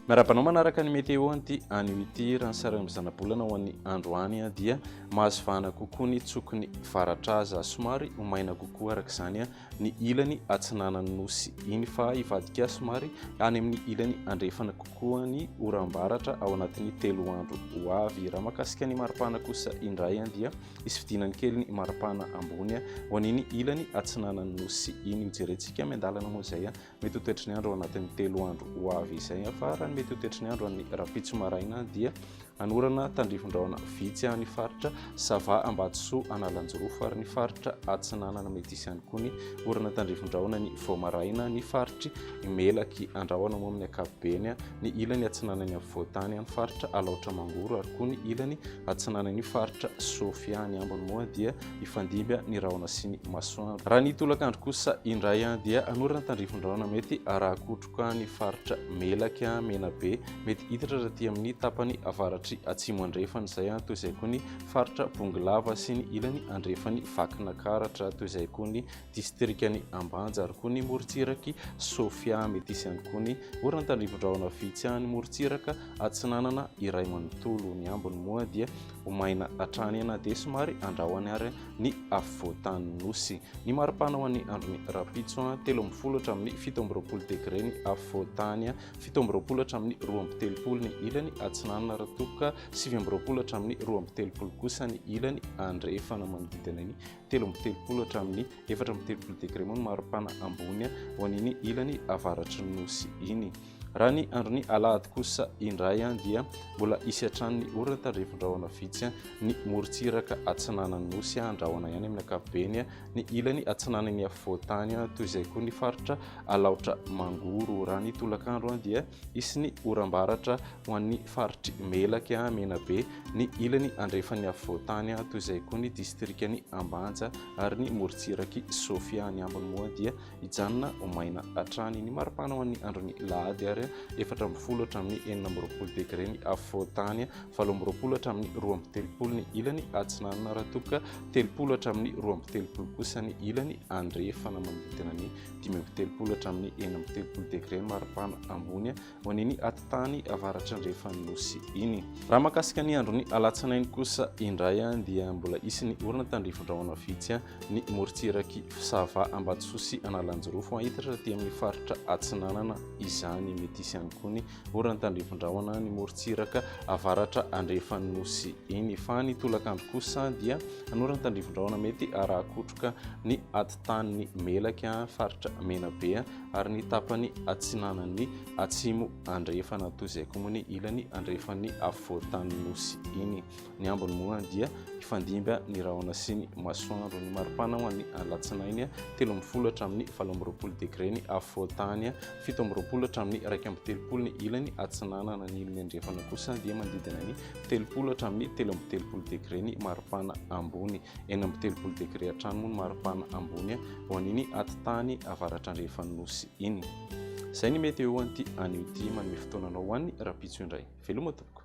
Miarahaba anao manaraka ny météo anty anio ity raha ny sarany zanabolana ho an'ny androany dia mahazo vahana kokoa ny tsoky ny varatra aza somary ho maina kokoa araka izany ny ilany atsinanan'ny nosy iny fa hivadika somary any amin'ny ilany andrefana kokoa ny oram-baratra ao anatin'ny telo andro ho avy. Raha makasika ny maripana kosa indray dia hisy fidinany kely ny maripana ambony ho an'iny ilany atsinanan'ny nosy iny. Hojerentsika miandalana moa izay. Mety ho toetry ny andro ao anatin'ny telo andro ho avy izay fa raha ny mety ho toetry ny andro an'ny rahampitso maraina dia anorana tandrifin-drahona vitsy any faritra sava ambatosoa analanjirofo ary ny faritra atsinanana mety isy any koa ny orana tandrifin-drahona ny voamaraina ny faritry melaky andrahona moa amin'ny akabobeny ny ilany atsinanany amin'ny voatany any faritra alaotra mangoro ary koa ny ilany atsinanany faritra sofia ny ambony moa dia hifandimby ny rahona sy ny masoandro. Raha ny tolakandro kosa indray dia hanorana tandrifin-drahona mety harakotroka ny faritra Melaky, Menabe, mety hiditra rahatỳ amin'ny tapany avaratry atsimo andrefana izay, toy izay koa ny faritra Bongolava sy ny ilany andrefan'i Vakinakaratra, toy izay koa ny distrikan'i Ambanja ary koa ny morontsiraky Sofia, mety hisy ihany koa ny orana tandrifin-drahona vitsy any morontsiraka atsinanana iray manontolo. Ny ambiny moa dia ho maina hatrany na dia somary andrahoany ary ny afovoantany nosy. Ny maripana ho an'ny andron'ny rapitso, telo amby folo hatramin'ny fito amby roapolo degre ny afovoantany, fito amby roapolo hatramin'ny roa amby telopolo ny ilany atsinanana raha toa ka sivy amby roapolo hatramin'ny roa amby telopolo kosa ny ilany andrefana. Manodidina ny telo amby telopolo hatramin'ny efatra amby telopolo degre moa ny maripana ambony ho an'iny ilany avaratry ny nosy iny. Raha ny andron'ny alahady kosa indray dia mbola hisy hatrany ny orana tandrevindrahona vitsy ny morontsiraka atsinanan'ny nosy handrahona ihany amin'ny ankapobeny ny ilany atsinanan'ny afovoantany toy izay koa ny faritra alaotra mangoro raha ny tolakandro dia hisy ny oram-baratra ho an'ny faritry melaka menabe ny ilany andrefan'ny afovoantany toy izay koa ny distrikany ambanja ary ny morontsiraky sofia ny ambony moa dia hijanona ho maina hatrany. Ny maripana ho an'ny andron'ny lahady ary efatra ambin'ny folo hatramin'ny enina amby roapolo degre ny afovoan-tany, valo amby roapolo hatramin'ny roa amby telopolo ny ilany atsinanana raha toa ka telopolo hatramin'ny roa amby telopolo kosa ny ilany andrefana manodidina ny dimy amby telopolo hatramin'ny enina amby telopolo degre ny maripana ambony ho an'iny atitany avaratrandrefan'ny Nosy iny. Raha mahakasika ny andron'ny alatsinainy kosa indray dia mbola hisy ny orana tandrifindrahona vitsy ny morontsirak'i Sava, Ambatosoa sy Analanjirofo. Hahitatra aty amin'ny faritra atsinanana izany. Mety hisy ihany koa ny orana tandrifindrahona ny morontsiraka avaratra andrefan'ny Nosy iny. Fa ny tolakandro kosa dia hanorana tandrifindrahona mety haraha-kotroka ny atitany melaky, faritra Menabe, ary ny tapany atsinanan'ny atsimo andrefana toy izay koa moa ny ilany andrefan'ny afovoantanin'ny nosy iny. Ny ambiny moa dia hifandimba ny rahona sy ny masoandro. Ny maripana ho an'ny alatsinainy telo ambin'ny folo hatramin'ny valo amby roapolo degre ny afovoantany, fito amby roapolo hatramin'ny iraika amby telopolo ny ilany atsinanana. Ny ilany andrefana kosa dia manodidina ny telopolo hatramin'ny telo amby telopolo degre ny maripana ambony. enina amby telopolo degre hatrany moa ny maripana ambony ho an'iny atitany avaratrandrehefan'ny nosy iny izay ny mety eo an'ity anio ity manome fotoananao ho an'ny rapitso indray veloma tompoko